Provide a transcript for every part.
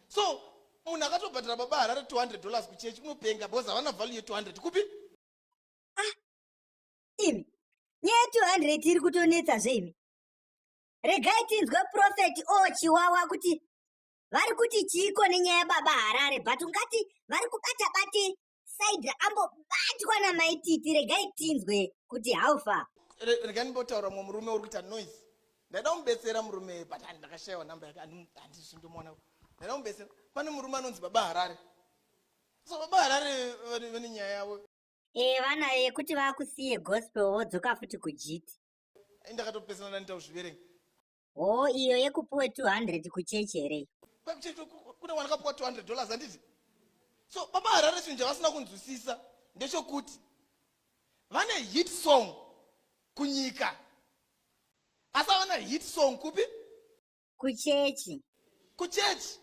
so munhu akatobhadhara baba harare 200 dollars kuchechi unopenga bcause havana value ye 200 kupi ah, imi nyaya 200 iri kutonetsa zveimi regai tinzwe profeti o oh, chiwawa kuti vari kuti chiiko nenyaya baba harare but ungati vari kubata bate saidra ambobatwa namaititi regai tinzwe kuti haufa regai ndimbotaura mumwe murume uri kuita noise ndaida kumubetsera murume but ndakashayiwa namba yake andizvindomuona ndaida kumubetsera pane murume anonzi baba harare so baba harare vane nyaya yavo ee eh, vana yekuti vakusiye gospel vodzoka futi kujiti ndakatopesana ndanditakuzviverenga hoo iyo yekupuwe 200 kuchechi here iyo kwakuchechi kune mwana kapuwa 200 dollars handiti so baba harare chinhu chavasina kunzwisisa ndechokuti vane hit song kunyika asi avana hit song kupi kuchechi kuchechi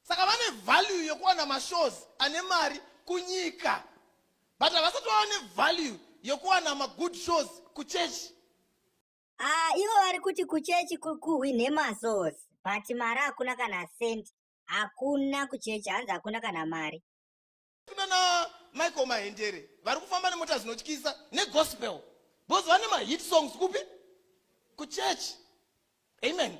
saka vane value yekuwana mashows ane mari kunyika but havasati vava nevalue yekuwana magood shows kuchechi Ah, ivo vari kuti kuchechi ku- kuhwinhe masource but mari hakuna kana cent hakuna kuchechi hanzi hakuna kana mari Tuna na Michael Mahendere vari kufamba nemota dzinotyisa negospel because vane mahit songs kupi kuchurch amen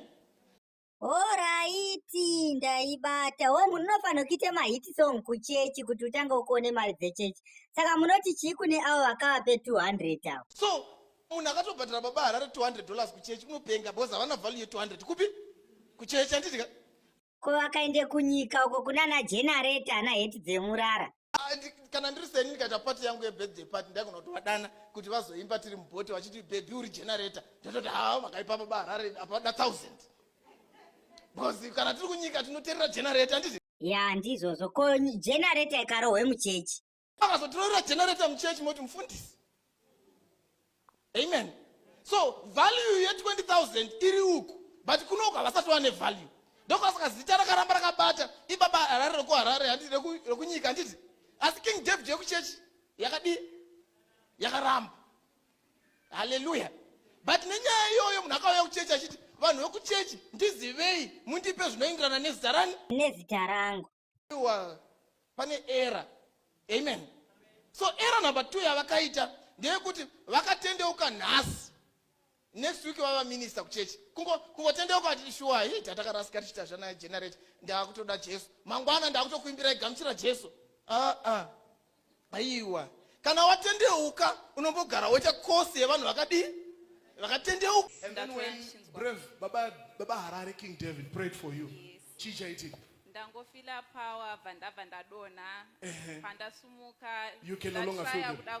Horaiti, ndaibata. Wo munhu unofanira kuita mahit song kuchechi kuti utange ukuone mari dzechechi. Saka munoti chii kune avo vakavape 200 avo? So munhu akatobhadhara baba Harare 200 dollars kuchechi unopenga because havana value ye 200 kupi? Kuchechi handiti ka? Ko vakaenda kunyika uko kunana generator ana heti dzemurara. Ah, kana ndiri seni ndikaita pati yangu yebirthday pati ndaigona kuti vadana kuti vazoimba tiri mubhoti vachiti bhebhi uri generator ndototi haa makaipapa baharare apa da thousand because kana tiri kunyika tinoterera generator anditi ya ndizvozvo ko generator ikarohwe muchechi akazotirorera generator muchechi moti mufundisi amen so value ye 20000 iri uku but kunoku havasati wane value ndokwasaka zita rakaramba rakabata ibaba harare reku harare handi rekunyika handiti asi king david yekuchechi yakadii yakaramba haleluya but nenyaya iyoyo munhu akauya kuchechi achiti vanhu vekuchechi ndizivei mundipe zvinoenderana nezita rani nezita rangu pane era amen so era number two yavakaita ndeyekuti vakatendeuka nhasi next week vava minista kuchechi kungotendeuka atiti shuwa hii tatakarasika tichita zvana generate ndaakutoda jesu mangwana ndaakutokuimbirai gamuchira jesu aa ah, ah. aiwa kana watendeuka unombogara woita kosi yevanhu vakadii vakatendeuka and then when brave baba baba harare king david prayed for you chii chaitika ndangofila power bva ndabva ndadonha pandasumuka ndashaya kuda